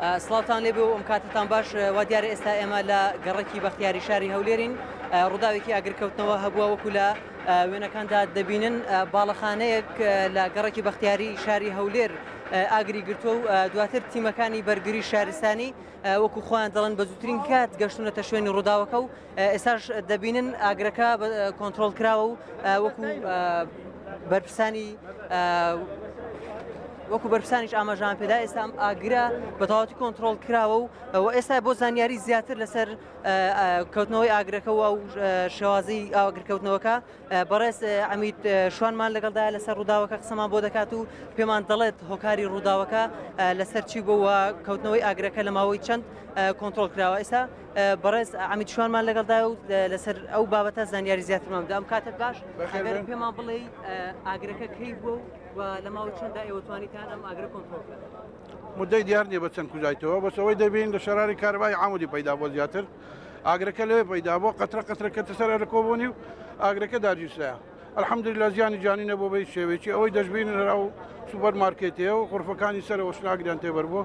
سڵاوان لێ بێ و ئەم کاتتان باش وا دیارە ئێستا ئێمە لە گەڕکی بەختیاری شاری هەولێرین ڕووداوێکی ئاگرکەوتنەوە هەبووە وەکو لە وێنەکاندا دەبینن باڵەخانەیەک لە گەڕکی بەختیاری شاری هەولێر ئاگری گرتووە و دواتر تیمەکانی بەرگری شارستانی وەکو خۆیان دەڵێن بە زووترین کات گەشتونەتە شوێنی ڕووداوەکە و ئێستاش دەبینن ئاگرەکە کۆنتترۆل کراوە و وەکو بەرپرسانی وەکو بەرپسانیش ئاماژان پێدا ئێستا ئەم ئاگرە بە تەواتی کۆنتترۆل کراوە و و ئێستا بۆ زانیاری زیاتر لەسەر کەوتنەوەی ئاگرەکەەوە و شێوازی ئاگرکەوتنەوەکە بەڕێز ئەمیت شوانمان لەگەڵدا لەسەر ڕووداوەکە قسەمان بۆ دەکات و پێمان دەڵێت هۆکاری ڕووداوەکە لەسەر چی بووە کەوتنەوەی ئاگرەکە لە ماوەی چەند کۆنتترۆل کراوە ئێستا بەڕێز ئەمیت شوانمان لەگەڵدایە و لەسەر ئەو بابەتە زانیاری زیاترمان دام کاتت باش بەخێر پێمان بڵێ ئاگرەکە کەی بوو و لە ماوە چەنددا ئێوەتوانیتان ئەم ئاگرە کۆنتۆڵ مدەی دیار نیە بە چەند کوزایتەوە بەسەوەی دەبین لە شەراری کاربای عمودی پیدا بۆ زیاتر ئاگرەکە لەوێ پیدا بۆ قەترە قەترەکە تەسەر لە کۆبوونی و ئاگرەکە داگیرسرایە الحمدللە زیانی جانی نەبووە بە هیچ شێوەیەکی ئەوەی دەشبینن هەر ئەو سوپەر مارکێتەیە و غرفەکانی سەرەوە شناگریان تێبەر بووە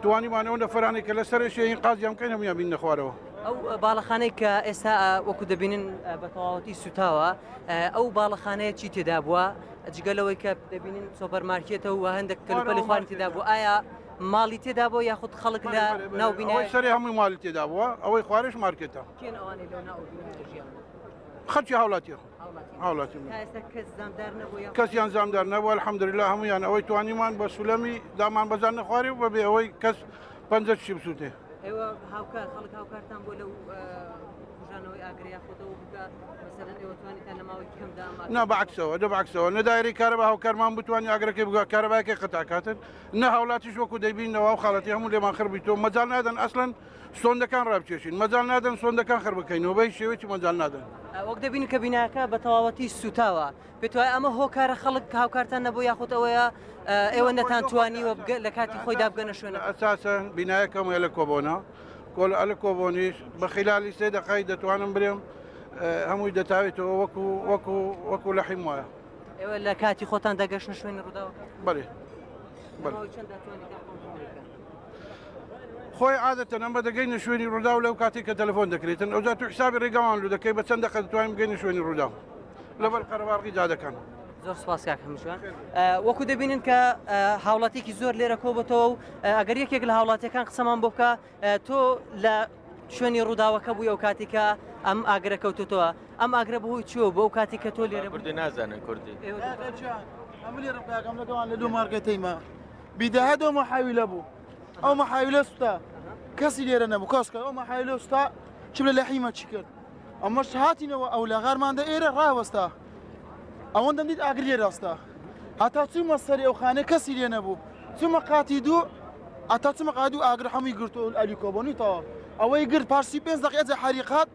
توانیمان ئەو نەفەرانی کە لە سەرێ شێین قازیان بکەین هەموویان بینە خوارەوە ئەو باڵەخانەی کە ئێستا ئا، وەکو دەبینن ئا، بە تەواوەتی سوتاوە ئا، ئەو باڵەخانەیە چی تێدا بووە جگە لەوەی کە دەبینن سۆپەر مارکێتە و هەندێک کەلوپەلی خوانی تێدا بوو ئایا ماڵی تێدا بۆ یاخود خەڵک لە ناو بینای ئەوەی سەرێ هەمووی مالی تێدا بووە ئەوەی خوارێش مارکێتە کێن ئەوانەی لەو ناو بینایە ژیان خەرکی هاوڵاتی هاوڵاتی کەسیان زامدار نەبوو الحەمدللا هەمویان ئەوەی توانیمان بە سولەمی دامان بەزان نەخوارێ و بەبێ ئەوەی کەس پەنجە چی بسووتێ نا بەعکسەوە دە بەعکسەوە نەدایری کارە بە هاوکارمان بتوانانی ئاگرەکەی بگە کارەباکە قەتاکاتن نە هاوڵاتیش وەکو دەبینەوە و خاڵەتی هەموو لێمان خربی تۆ مەجال نادەن ئەسلەن سۆندەکان ڕابکێشین مەجال نادەن سۆندەکان خربکەینەوە بەی شێوەی مەجال نادەن وەک دەبین کە بیناکە بە تەواوەتی سوتاوە پێت وایە ئەمە هۆکارە خەڵک هاوکارتان نەبوو یاخود ئەوەیە ئێوە نەتان توانیوە لە کاتی خۆی دابگەنە شوێنە ئەساسە بینایەکەم لە کۆبۆنا کۆل ئەل کۆبۆنیش بە خلالی سێ دەقای دەتوانم برێم هەمووی دەتاوێتەوە وەکو وەکو وەکو لە حیم وایە ئێوە لە کاتی خۆتان دەگەشتە شوێنی ڕووداوەکە بەێ بەێ خۆی عادەتەن ئەمە دەگەینە شوێنی ڕوودا و لەو کاتێک کە تەلفۆن دەکرێتن ئەوجا تو حسابی ڕێگەوان لو دەکەی بە چەند دەقە دەتوانین بگەینە شوێنی ڕوودا لەبەر قەرەباڵغی دادەکەن زۆر سپاس کاک هەمشوان وەکو دەبینن کە هاوڵاتێکی زۆر لێرە کۆبەتەوە و ئەگەر یەکێک لە هاوڵاتەکان قسەمان بۆ بکە تۆ لە شوێنی ڕووداوەکە بووی ئەو کاتیکە ئەم ئاگرە کەوتوتەوە ئەم ئاگرە بەهۆی چوە بۆ ئەو کاتی کە تۆ لێرە بردی نازانن کوردی لە دوو مارگەتەیمە بیدەهە دو محاویلە بوو ئەو محاویلە سوتا کەسی لێرە نەبوو کەس کە ئەو محاویلە سوتا چ لە لەحیمە چی کرد ئەمەش هاتینەوە ئەو لە غارماندە ئێرە ڕاوەستا ئەوەندەم دیت ئاگر لێ ڕاستە هەتا چوومە سەری ئەو خانە کەسی لێ نەبوو چوومە قاتی دوو ئەتا چمە قادو ئاگر هەمووی گرتو ئەلی کۆبنی تەواو ئەوەی گرت پارسی پێنج دەقێجە حریقات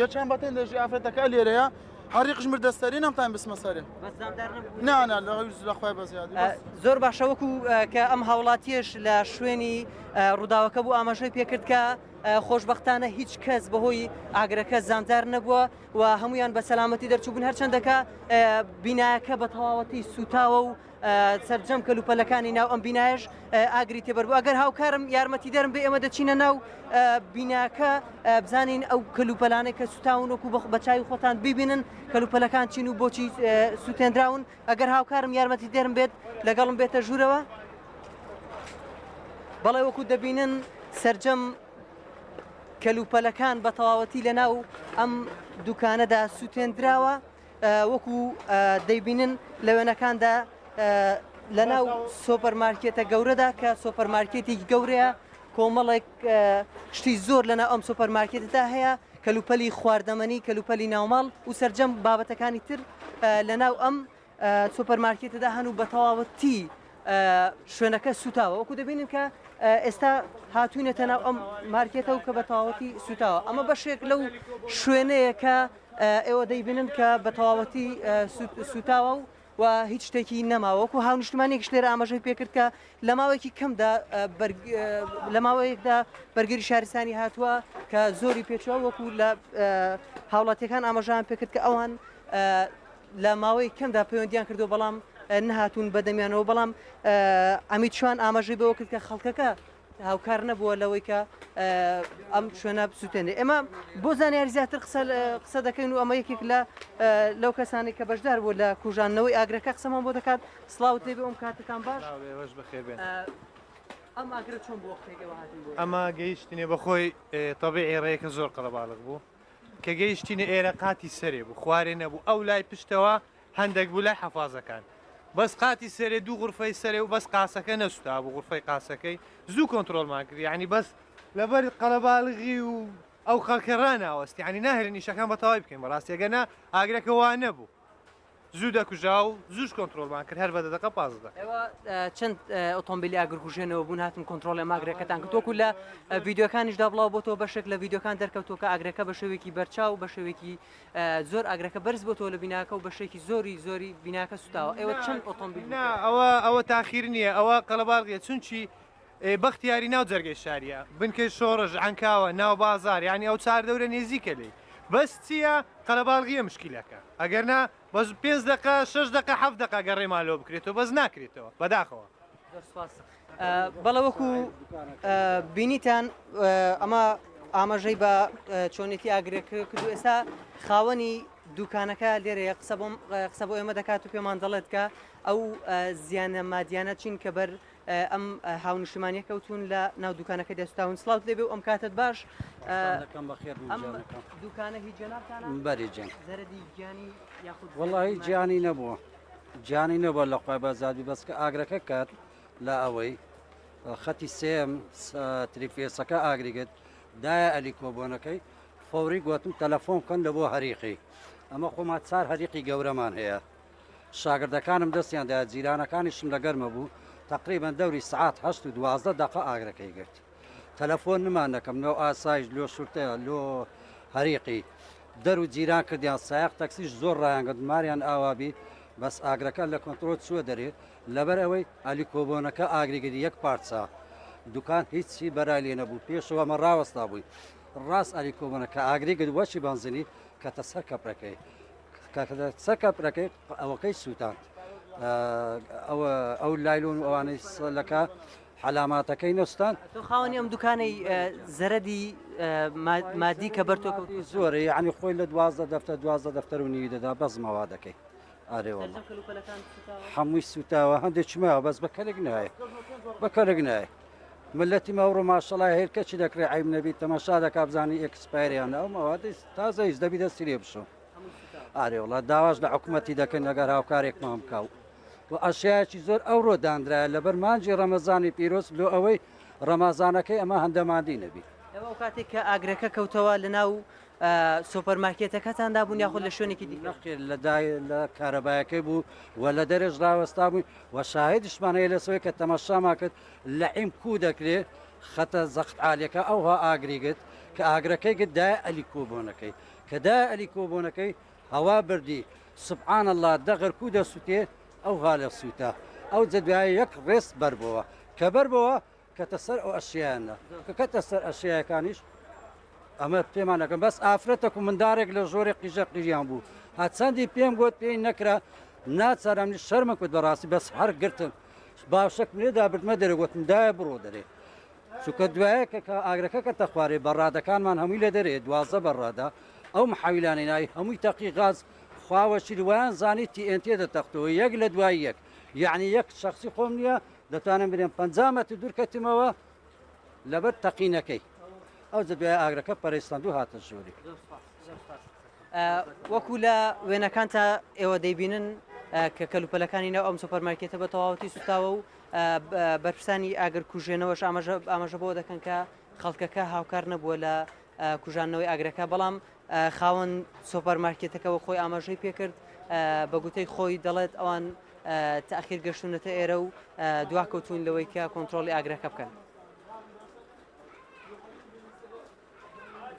یە چەند بەتێن لێژی ئافرەتەکە لێرەیە هەری قژمر دەستەری نەمتان بسمە سەرێ نانا لە لەخوای بەزیاد زۆر باشە وەکو کە ئەم هاوڵاتیش لە شوێنی ڕووداوەکە بوو ئاماژەی پێکرد کە خۆشببختانە هیچ کەس بەهۆی ئاگرەکە زاندار نەبووە و هەمویان بە سەلامەتی دەرچوبوون هەرچەندەکە بینایەکە بە تەواوەتی سوتاوە و سەرجەم کەلوپەلەکانی ناو ئەم بینایەش ئاگری تێبەر بوو ئەگەر هاوکارم یارمەتی دەرم بێ ئێمە دەچینە ناو بیناکە بزانین ئەو کەلوپەلانەی کە سوتاون وەکو بەخ بەچوی خۆتان ببینن کەلوپەلەکان چین و بۆچی سووتێنراون ئەگەر هاوکارم یارمەتی دەرم بێت لەگەڵم بێتە ژوورەوە بەڵێ وەکو دەبینن سرجەم کەلوپەلەکان بە تەواوەتی لە ناو ئەم دوکانەدا سووتێنراوە وەکو دەیبینن لە وێنەکاندا لەناو سۆپەرمارکێتە گەورەدا کە سۆپەرمارکێتی گەورەیە کۆمەڵێک شتی زۆر لەناو ئەم سۆپەرمارکێتدا هەیە کەلوپەلی خواردەمەنی کەلوپەلی ناوماڵ و سرجەم بابەتەکانی تر لەناو ئەم سوپەرمارکێتدا هەن و بە تەواوەتی شوێنەکە سوتاوە وەکو دەبینن کە ئێستا هاتوونەتە ناو ئەم مارکێتە و کە بە تەواوەتی سوتاوە ئەمە بەشێک لەو شوێنەیە کە ئێوە دەیبینن کە بە تەواوەتی سووتاوە و و هیچ شتێکی نەما وەکو هاونیشتمانێکش لێرە ئاماژەی پێکرد کە لە ماوەیەکی کەمدا لە ماوەیەکدا بەرگری شارستانی هاتووە کە زۆری پێچوە وەکو لە هاوڵاتیەکان ئاماژان پێکرد کە ئەوان لە ماوەی کەمدا پەیوەندیان کردو بەڵام نهاتون بەدەمیانەوە بەڵام ئەمیت شوان ئاماژەی بەوە کرد کە خەڵکەکە هاوکار نەبووە لەوەی کە ئەم شوێنە بسووتێنێ ئێمە بۆ زانیاری زیاتر قسە دەکەین و ئەمە یەکێک لە لەو کەسانی کە بەشدار بوو لە کوژانەوەی ئاگرەکە قسەمان بۆ دەکات سلااوت لێبێ ئەم کاتەکان باش بەخێبێن. ئەمە گەیشتنێ بەخۆی تەبی ئێرەیەکە زۆر قەڵەباڵک بوو کە گەیشتینە ئێرە قاتی سەرێ بوو خوارێ نەبوو ئەو لای پشتەوە هەندەک بوو لای حەفازەکان بەس قاتی سەرێ دوو غورفەی سەرێ و بەس قاسەکە نەسوتابوو غورفەی قاسەکەی زوو کۆنترۆڵمان کرد یانی بەس لەبەر قەلەباڵغی و ئەو خەڵکە راناوەست یانی ناهێلن ئیشەکان بە تەواوی بکەین بەڕاستی ئەگەرنا ئاگرەکە وا نەبوو زوو دەکوژا و زووش کۆنترۆڵمان کرد هەر بە دەدەقە پازدە دەقە. ئێوە اه، چەند اه، ئۆتۆمبیلی ئاگرکوژێنەوە بوون هاتن کۆنترۆڵی ئەم ئاگرەکەتان کرد وەکو لە اه، ڤیدیۆکانیشدا بڵاو بۆتەوە بەشێک لە ڤیدیۆکان دەرکەوتووە کە ئاگرەکە بە شێوێکی بەرچاو بە شێوێکی زۆر ئاگرەکە بەرز بۆتەوە لە بیناکە و بەشێکی زۆری زۆری بیناکە سوتاوە ئێوە چەند ئۆتۆمبیل نا ئەوە ئەوە تاخیر نییە ئەوە قەلەباڵغیە چونچی بەختیاری ناو جەرگەی شاریە بنکەی شۆڕش عەنکاوە ناو بازار یعنی ئەو چار دەورە نێزیکە لێی بەس چییە قەلەباڵغیە مشکیلەکە ئەگەر نا بەس پێنج دەقە شەش دەقە حەفت دەقە گەڕێمان لۆ بکرێتەوە بەس ناکرێتەوە بەداخەوە بەڵێ وەکو بینیتان ئەمە ئاماژەی بە چۆنێتی ئاگرێک کرد و ئێستا خاوەنی دوکانەکە لێرەیە قسە بۆم قسە بۆ ئێمە دەکات و پێمان دەڵێت کە ئەو زیانە مادیانە چین کە بەر ئەم هاونیشتمانە کەوتون لە ناو دوکانەکە دەستاون سلااوت لێبێ و ئەم کاتت باش دوکانە هی جەنابتان بەری جەن زەرەدی گیانی یاخود وڵی گیانی نەبووە جانی نە بە لە قوبە زادی بەس کە ئاگرەکە کات لە ئەوەی خەتی سێم تریفێسەکە ئاگریگەت دایە ئەلی کۆبۆنەکەی فۆری گوتم تەلەفۆن کەن لە بۆ هەریقی ئەمە خۆمان چار هەریقی گەورەمان هەیە شاگردەکانم دەستیاندا جیرانەکانیشم لە گەرمە بوو تقریبان دەوری سعات هەست و دوازدە دقە ئاگرەکەی گرت تەلەفۆن نمان دەکەم لۆ ئاسایش لۆ شورتەیە لۆ هەریقی دەر و جیران کردیان سایق تەکسیش زۆر ڕایانگەت ماریان ئاوابی بەس ئاگرەکە لە کۆنتترۆل چووە دەرێ لەبەر ئەوەی ئەلی کۆبۆنەکە ئاگریگەری یەک پارچە دوکان هیچی بەرای لێ نەبوو پێشەوە مە ڕاوەستا بووی ڕاست ئەلی کۆبۆنە کە ئاگریگەری وەچی بەنزنی کەتە سەر کەپرەکەی سەر کەپرەکەی ئەوەکەی سووتان ئەوە ئەو لایلۆن ئەوانەی سەلەکە حەلاماتەکەی نەستاند. تۆ خاوەنی ئەم دوکانەی زەرەدی مادی کە بەر تۆ کەوتووە زۆرە یانی خۆی لە دوازدە دەفتەر دوازدە دەفتەر و نیوی دەدا بەس مەوادەکەی ئارێ وەڵا سەرجەم کەلوپەلەکان سوتاوە هەمووی سوتاوە هەندێک چماوە بەس بە کەلک نایە بە کەلک نایە ملەتی ماوڕۆ ماشەڵا هێر کەچی دەکرێ عیب نەبی تەماشا دەکا بزانی ئێکسپایریان ئەو مەوادەی تازە هیچ دەبی دەستی لێ بشۆ هەمووی سوتاوە ئارێ وڵا داواش لە حکومەتی دەکەن ئەگەر هاوکارێکمان بکاو و ئەشیایەکی زۆر ئەوڕۆ دانرایە لەبەر مانجی ڕەمەزانی پیرۆز لۆ ئەوەی ڕەمازانەکەی ئەمە هەندە ماندی نەبی. ئێوە کاتێک کە ئاگرەکە کەوتەوە لە ناو سۆپەر مارکێتەکەتان دابوون یاخود لە شوێنێکی دیکە؟ نەخێر لە دای لە کارەبایەکەی بوو و لە دەرێش ڕاوەستا بووین و شاهێدیشمان هەیە لەسەوەی کە تەماشامان کرد لە عیم کوو دەکرێ خەتە زەخت عالیەکە ئەوها ئاگری گرت کە ئاگرەکەی گرت دایە ئەلی کۆبۆنەکەی کە دایە ئەلی کۆبۆنەکەی هەوا بردی سبحان اللە دەغر کو دەسوتێ ئەو هالە سوتە ئەوجە دوایە یەک ڕێس بەر بۆوە کە بەر بۆوە کەتە سەر ئەو ئەشیانە کە کەتە سەر ئەشیەکانیش ئەمە پێمان نەکەم بەس ئافرەتە و مندارێک لە ژۆرە قیژە قیژیان بوو هەچەندی پێم گوت پێی نەکرا ناچارم شەرمە کوت بەڕاستی بەس هەر گرتم باشەک لێدا بردمە دەرەگوتم دایە بڕۆ دەرێ چونکە دوایە کە کە ئاگرەکە کەتە خوارێ بەڕادەکانمان هەمووی لە دەرێ دوازدە بەڕادە ئەو محاویلانەی ناوی هەمووی تەقی غاز خواوە چی وایان زانی تی ئێن تێ دەتەختەوە یەک لە دوای یەک یعنی یەک شخصی خۆم نییە دەتوانم برێن پ مەتر دوور کەتمەوە لەبەر تەقینەکەی ئەو جە دوای ئاگرەکە پەرستند و هاتە ژووری وەکو لە وێنەکان تا ئێوە دەیبینن کە کەلوپەلەکانی ناو ئەم سوپەرمارکێتە بە تەواوەتی سوتاوە و بەرپرسانی ئاگرکوژێنەوەش ئاماژە بەوە دەکەن کە خەڵکەکە هاوکار نەبووە لە کوژاندنەوەی ئاگرەکە بەڵام خاوەن سۆپەر مارکێتەکەەوە خۆی ئاماژەی پێکرد بە گوتەی خۆی دەڵێت ئەوان تاخیر گەشتونەتە ئێرە و دواکەوتون لەوەی کە کۆنتترۆلی ئاگرەکە بکەن.